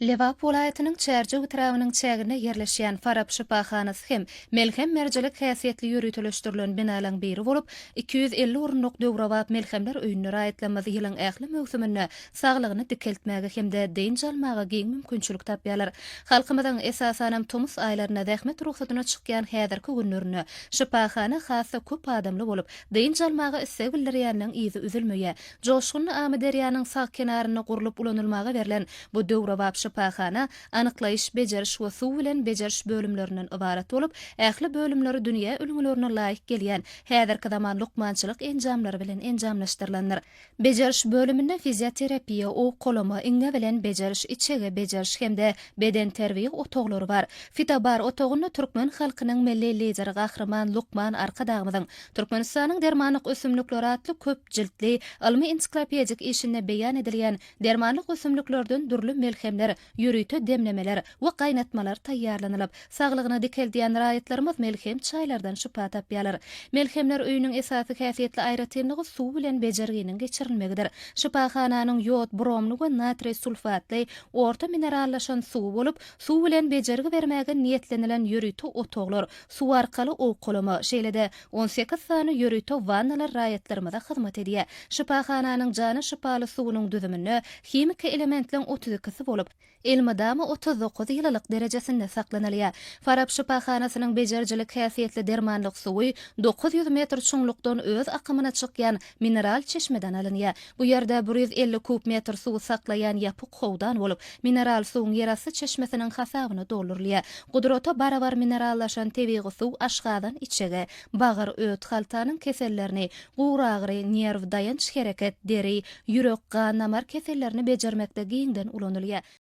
Lebap welaýatynyň Çärjew etrabynyň çäginde ýerleşýän Farap şypahanasy hem melhem-merjilik häsiýetli ýöriteleşdirilen binalaryň biri bolup, iki ýüz elli orunlyk döwrebap melhemler öýünde raýatlarymyz ýylyň ähli möwsüminde saglygyny dikeltmäge hem-de dynç almaga giň mümkinçilik tapýarlar. Halkymyzyň, esasanam, tomus aýlarynda zähmet rugsadyna çykýan häzirki günlerinde şypahana has-da köp adamly bolup, dynç almaga isleg bildirýäniniň yzy üzülmeýär. Joşgunly Amyderýanyň sag kenarynda gurlup ulanylmaga berlen bu döwrebap şypahana anyklaýyş, bejeriş we suw bilen bejeriş bölümlerinden ybarat bolup, ähli bölümleri dünýä ülňülerine laýyk gelýän häzirki zaman lukmançylyk enjamlary bilen enjamlaşdyrylandyr. Bejeriş bölüminde fizioterapiýa, owkalama, iňňe bilen bejeriş, içege bejeriş hem-de bedenterbiýe otaglary bar. Fitobar otagynda türkmen halkynyň Milli Lideri Gahryman Lukman Arkadagymyzyň Türkmenistanyň dermanlyk ösümlikleri atly köp jiltli ylmy-ensiklopedik işinde beýan edilýän dermanlyk ösümliklerden dürli melhemler, ýörite demlemeler we gaýnatmalar taýýarlanylyp, saglygyny dikeldýän raýatlarymyz melhem çaýlardan şypa tapýarlar. Melhemler öýüniň esasy häsiýetli aýratynlygy suw bilen bejerginiň geçirilmegidir. Şypahananyň ýod, bromly we natriý sulfatly orta minerallaşan suwy bolup, suw bilen bejergi bermäge niýetlenilen ýörite otaglar, Suw arkaly owkalama, şeýle-de on sekiz sany ýörite wannalar raýatlarymyza hyzmat edýär. Şypahananyň jana şypaly suwunyň düzüminde himiki elementleň otuz ikisi bolup, elmydama otuz dokuz ýylylyk derejesinde saklanylýar. Farap şypahanasynyň bejerijilik häsiýetli dermanlyk suwy dokuz ýüz metr çuňlukdan öz akymyna çykýan Mineral çeşmeden alynýar. Bu ýerde bir ýüz elli kub metr suwy saklaýan ýapyk howdan bolup, mineral suwuň ýerasty çeşmesiniň hasabyna doldurylýar. Gudrata barabar minerallaşan tebigy suw aşgazan içege, bagyr, öt, haltanyň kesellerini, guragyry, nerw, daýanç-hereket, deri, ýürek, gan-damar kesellerini bejermekde giňden ulanylýar.